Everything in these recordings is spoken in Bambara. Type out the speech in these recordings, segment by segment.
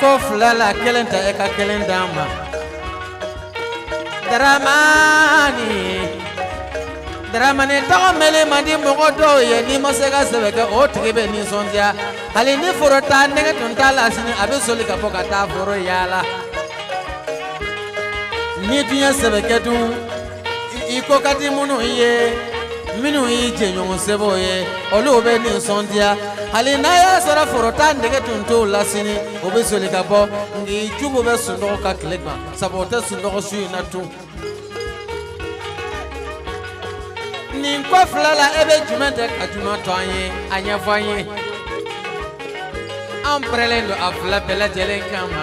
ko fila la kelen ta e ka kelen di n ma dramani tɔgɔ mɛn man di mɔgɔ dɔw ye ni n ma se ka sɛbɛ kɛ o tigi bɛ nisɔndiya hali ni foro taa nege tun t'a la sini a bɛ soli ka bɔ ka taa foro yaala ni n dun y'a sɛbɛ kɛ dun I ko ka di minnu ye minnu y'i jɛɲɔgɔn sɛbɛw ye olu bɛ nisɔndiya hali n'a y'a sɔrɔ foro taa nege tun t'u la sini o bɛ soli ka bɔ nka i juguw bɛ sunɔgɔ ka tile gan sabu u tɛ sunɔgɔ su in na tun nin ko fila la e bɛ jumɛn ta ka jumɛn to an ye a ɲɛfɔ an ye an pɛrɛlen don a fila bɛɛ lajɛlen kanma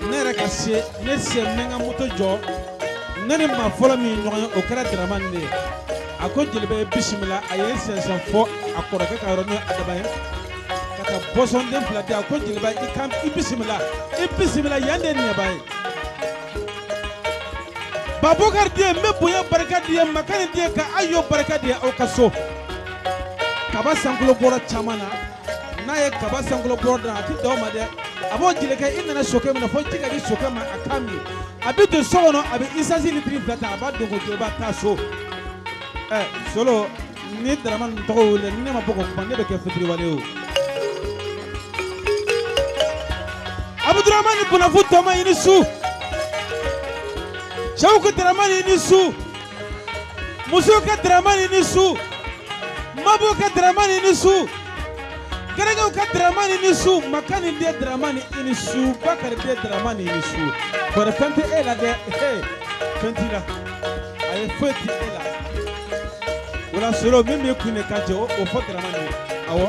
ne yɛrɛ ka se ne se mɛ ka moto jɔ ne ni maa fɔlɔ min ɲɔgɔn ye o kɛra darama de ye a ko jeliba i bisimila a y'i sɛnsɛn fɔ a kɔrɔkɛ ka yɔrɔ n'o ye adama ye ka taa bɔsɔnden fila di a ko jeliba i kan i bisimila i bisimila yan de ye nɛba ye babukari di ye n bɛ bonya barika d'i ye makani den ye ka ayo barika d'i ye aw k'a sɔn kaba sankolo bɔrɔ caman na n'a ye kaba sankolo bɔrɔ dan a tɛ dan o ma dɛ a b'o jelikɛ i nana sokɛ min na fo ji ka di sokɛ ma a k'a min a bɛ don so kɔnɔ a bɛ isansi litiri fila ta a b'a dogo jɔ i b'a taa so ɛ solo ni daramani tɔgɔ wele ni ne ma bɔ ka kuma ne bɛ kɛ fitiriwale ye o abuduramani bonafu tɔma i ni su cɛw ka daramani i ni su musow ka dramani i ni su mabɔw ka dramani i ni su garankew ka dramani i ni su makani den dramani i ni su bakari den dramani i ni su tɔɔrɔ fɛn tɛ e la dɛ ee fɛn t'i la a ye foyi ti e la o la solo min b'i kun de ka jɛ o o fɔ dramani ye awɔ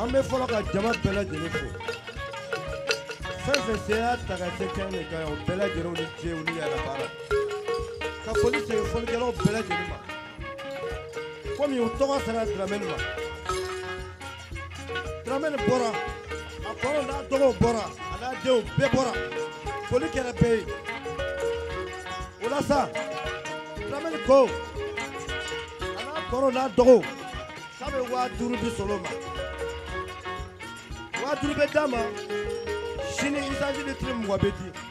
an bɛ fɔlɔ ka jama bɛɛ lajɛlen fo fɛn o fɛn sen y'a ta ka se kɛnɛ de kan o bɛɛ lajɛlen ni ce ni yɛrɛ baara ka foli se folikɛlaw bɛɛ lajɛlen ma komi u tɔgɔ sera Dramɛ ma Duramani bɔra a kɔrɔ n'a dɔgɔw bɔra a n'a denw bɛɛ bɔra foli kɛra bɛɛ ye o la sa Duramani ko a n'a kɔrɔ n'a dɔgɔw k'a bɛ waa duuru di Solo ma waa duuru bɛ d'a ma sini isansi litiri mugan bɛ di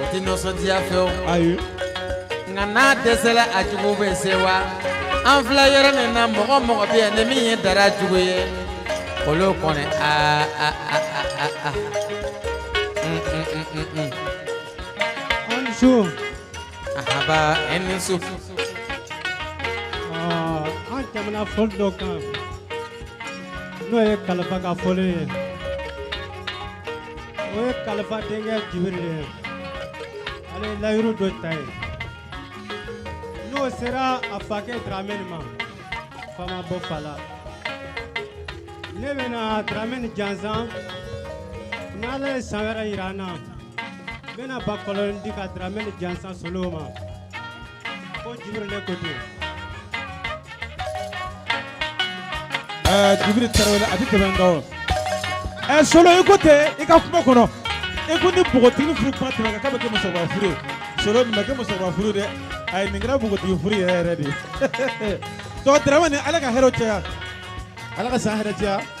O tɛ nisɔndiya fɛ o ayi nka n'a dɛsɛ a jugu bɛ se wa an fila yɛrɛ min na mɔgɔ mɔgɔ bɛ yan ni min ye da jugu ye olu kɔni aa haba e ni su an tɛmɛna foli dɔ kan n'o ye kalifa ka foli ye o ye kalifa denkɛ jibiri de ye ale ye layidu dɔ ta ye n'o sera a fakɛ dramɛni ma fama bɔ fa la ne bɛna dramɛni jansan n'ala ye san wɛrɛ yira an na n bɛna bakɔrɔnin di ka dramɛni jansan solo ma ko jibiri ne ko ten ɛɛ jibiri tarawele a bɛ tɛmɛ nka o ɛɛ solo i ko ten i ka kuma kɔnɔ i ko ni npogotigi furu kuma tɛmɛ ka k'a bɛ kɛ musokɔrɔba furu ye solo nin ma kɛ musokɔrɔba furu dɛ ayi nin kɛra npogotigi furu yɛrɛ yɛrɛ de ye tɔ dramani ala ka hɛrɛw caya ala ka san hɛrɛ caya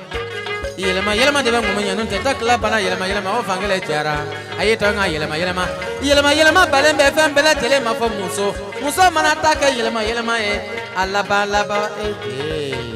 yɛlɛma yɛlɛma de bɛ ŋɔmi ɲɛ tɛ ta tila bana yɛlɛma yɛlɛma o fan kelen jɛra a ye tɔn ka yɛlɛma yɛlɛma yɛlɛma yɛlɛma balen bɛ fɛn bɛɛ lajɛlen ma fo muso muso mana ta kɛ yɛlɛma yɛlɛma ye a laban laban e jee.